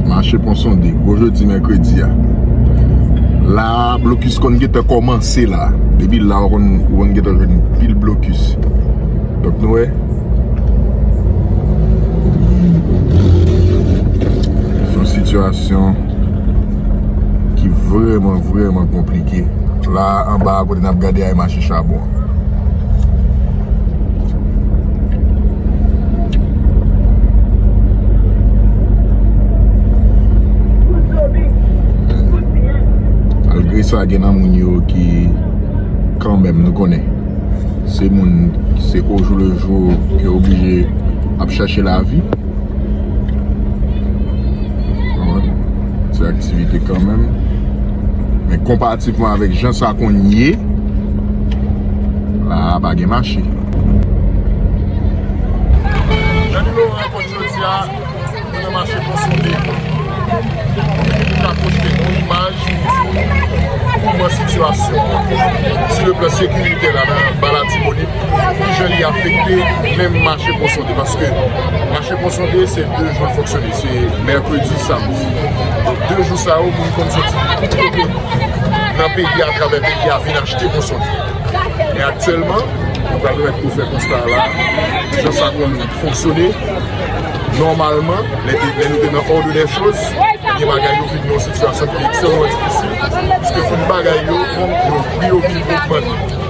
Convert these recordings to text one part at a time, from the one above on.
Mache pon sonde, gwo jodi mèkredi a. La blokis konn gètan kòmanse la. Depi la ou konn gètan jwenn pil blokis. Dok nou wè. Son sitiyasyon ki vreman vreman konplike. La anba kote nap gade a e mache chabon. Sa gen nan moun yo ki kan menm nou konnen se moun se ojou le jou ki oblije ap chache la vi se aktivite kan menm men konpatifman avèk jan sa konye La a pa gen mache. Dany Laurent konn jodi a nou nan mache pon Sode. Ki pou ka pwojte yon imaj pou di kouman sitiyasyon an sou le plan sekiritè la nan ba Latibonit, ki jan li afekte menm mache pon Sode. Paske mache pon Sode se 2 jou l fonksyone, se mèkredi, samdi. Donk 2 jou sa yo moun konn soti tout kote. nan peyi a atravè peyi a vin achte moson li. Men aktyèlman, nou pral mèt pou fè konsta a la, ki jan sa konn fonksyone, nòmalman, lè nou te nan òd dè choz, ebyen bagay yo vin nan sitiyasyon ki ekstrèmman difisil, pwiske tout bagay yo, pri yo vin ogmante.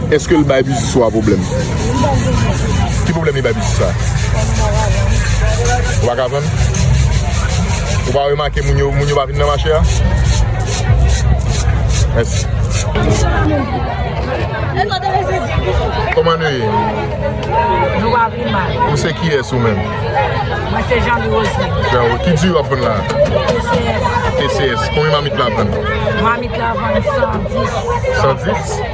Eske l bay biznis ou a pwoblèm? Ki pwoblèm li bay biznis la? Ou pa ka vann? Ou pa remake moun yo moun yo pa vin nan mache a? Mèsi. Kòman nou ye? Nou va pi mal. Ou se kiyès ou menm? Mwen se Jean Louis Rosny. Jean Louis. Ki di w ap vann la? TCS. TCS. Konbyen mamit la vann? Mamit la vann 110. 110?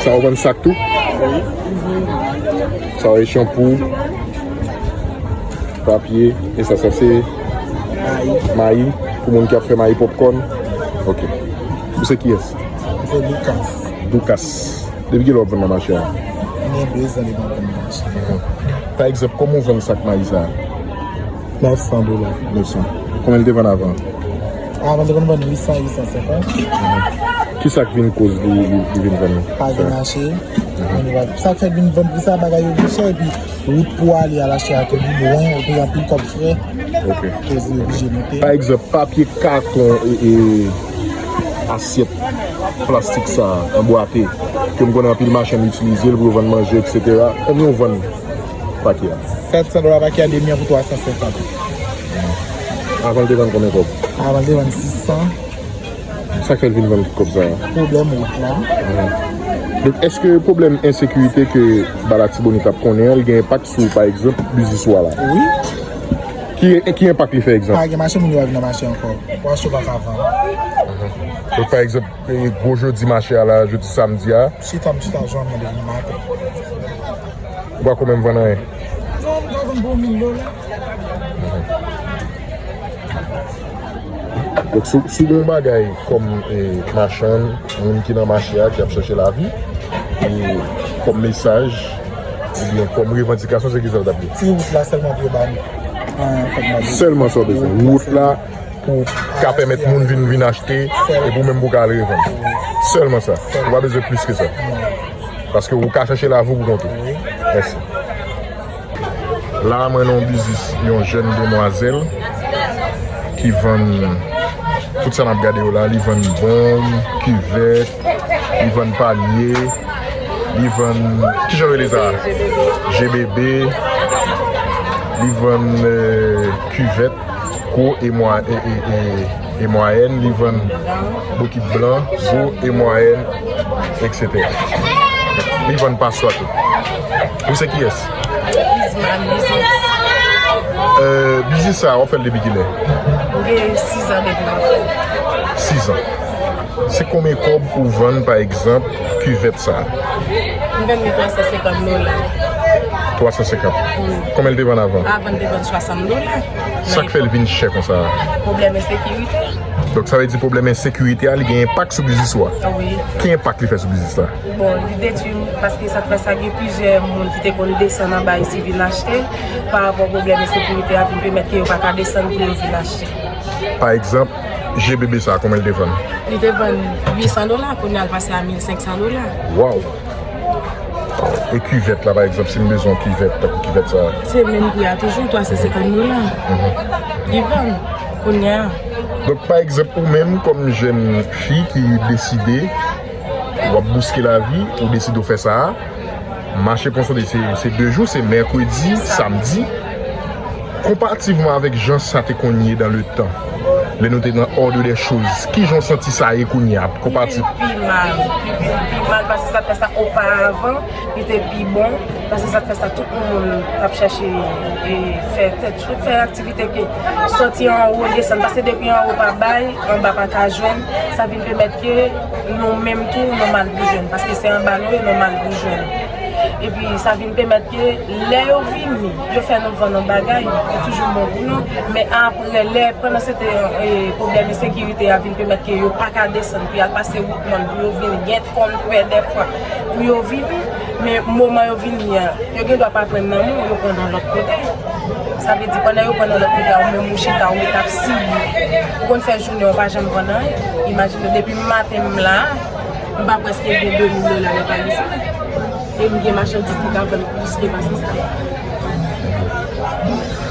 Sa yo vann sak tou? Oui. Sa yo e chanpou, papye, e sa sa se? Mayi. Mayi, pou moun ki ap fè mayi popkòn. Ok. Ou se kiyès? Mwen se Doukas. Doukas. Depi ki lè wap vann nan mache a? Mwen gen 2 zan depi mwen vann nan mache a. Pa egzanp, kòman ou vann sak mayi sa a? 900 dola. 900. Konbyen li te vann avan? Avan li te konn vann 800, 850. Kisa k vin koz li vin vann? Pa gen mache. Sa k fè vin vann pi sa bagay yo pi chè epi wout pou ale al achte a tou pi lwen ou peye anpil kòb frè. Ok. Koz li oblije moute. Pa egzanp papye katon e asyèt plastik sa an bwate ke m konnen anpil machann itilize l pou yo vann manje etc. Konbyen ou vann Pakia. 700 dola pakia demi an pou 350. Avan l te vann konbyen kob? Avan l te vann 600. Sak fè l vin vann tout kob sa yo? Pwoblèm wout la. Donk eske pwoblèm ensekirite ke ba latibonit ap konnen an li gen enpak sou pa egzanp biznis ou a la? Wi. Ki enpak li fè egzanp? Pa gen mache moun yo ap vin achte ankò. Wòch yo pa ka vann. Donk pa egzanp. Gwo jodi mache a la, jodi samdi a. Si tab si ta zanmi li ma te. Ou pa ko menm vann anyen. Non m ka vann pou 1000 dola. Donk si si gon bagay kom e machann moun ki nan mache a ki ap chache lavi e kom mesaj ou byen kom revandikasyon se kisa ou tap di? Ti wout la selman pou yo ba nou. Selman sa w bezwen wout la. pou ka pèmèt moun vin vin achte epi ou menm pou ka al revann sèlman sa ou pa bezwen plis ke sa paske ou ka chache lavi ou pou kont ou mèsi. La mwen nan yon biznis yon jèn demwazèl ki vann tout sa nap gade yo la li vann bonm, kivèt, li vann panye, li vann ki jan yo rele sa a? Jebebe, li vann kivèt. gwo e mwayèn, li vann bokit blan, gwo e mwayèn, etc. Li vann paswa tou. Ou se kiyès? Isma, m biznis. Biznis sa a, w ap fè l depi kilè? M gen 6 an depi m ap fè l. 6 an. Se konbyen kòb ou vann pa egzanp kivèt sa a? M vann li 350 dola. 350. Konbyen l te vann avan? Avan l te vann 60. Nou la. Sak fèl vin chè konsa a? Pwoblèm ensekirite. Donk sa vle di pwoblèm ensekirite a li gen enpak sou biznis ou a? Wi. Ki enpak li fè sou biznis la? Bon, li detwi m paske sa fè sa gen plizyè moun ki te konn desann anba isi vin achte. Pa rapò pwoblèm ensekirite a vin pèmèt ke yo pa ka desann pou yo vin achte. Pa egzanp, je bebe sa a konbyen li te vann? Li te vann 800 dola, kounya l pase a 1500 dola. Waww! E kivèt la pa egzanp si m bezwen yon kivèt tankou kivèt sa. Se menm pri a toujou 350 dola. Li vann kounya. Donk pa egzanp ou menm kòm jèn fi ki deside w ap bouske lavi, ou deside w fè sa a, mache Ponsonde se 2 jou, se mèkredi, samdi. Konparativman avèk jan sa te konn ye dan le tan, lè nou te nan òdre dè choz, ki jan w santi sa ye kounye a, konparativ. Li te pi mal, li te pi mal pase sa te fè sa oparavan, li te pi bon pase sa te fè sa, tout moun t ap chache fè tèt chou, fè aktivite ke sòti anwo desann, pase depi anwo pa bay, anba pa ka jwenn, sa vin pèmèt ke nou menm tou nou mal pou jwenn, paske se anba nou yo nou mal pou jwenn, epi sa vin pèmèt ke lè yo vini. Yo fè nou vann an bagay, yo toujou bon pou nou, men apre lè pandan se te pwoblèm ensekirite a vin pèmèt ke yo pa ka desann pou yal pase wout mòn pou yo vin gen konnpè dèfwa pou yo vin, men moman yo vini an, yo gen dwa pa pran nan nou, yo pran nan lòt kote. Sa vle di pandan yo pran nan lòt kote a ou menm ou chita ou ret ap sibi. Ou konn fè jounen ou pa janm vann anyen. Imajine depi maten m la, m pa preske gen 2000 dola nan valiz mwen. E m gen machandiz ki ka vann plis ke pase sa.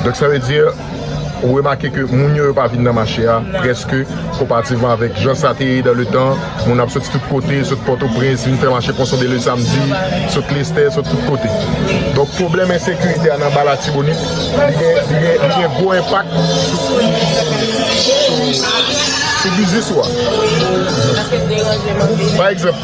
Donk sa vle di, ou remake ke moun yo yo pa vin nan mache a prèske konparativman avèk jan sa te ye dan le tan, moun ap soti tout kote, sot Pòtoprens, vin fè mache Ponson de le Samdi, sot Lestè, sot tout kote. Donk pwoblèm ensekirite a nan ba Latibonit, li gen gwo enpak sou biznis ou a. Paske deranjman vini. Pa egzanp,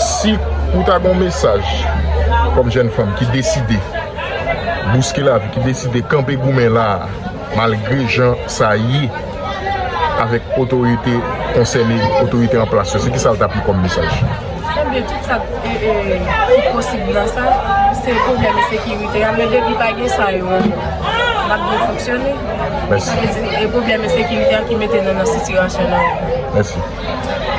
Si ou ta gen yon mesaj kòm jèn fanm ki deside bouske lavi, ki deside kanpe goumen la a malgre jan sa ye avèk otorite konsène, otorite an plas yo, se kisa l tap ye kòm mesaj? Ebyen tout sa ki posib nan sa, se pwoblèm ensekirite a, men depi pa gen sa yo n ap byen fonksyone. Mèsi. E pwoblèm ensekirite a ki mete nou nan sitiyasyon nou an. Mèsi.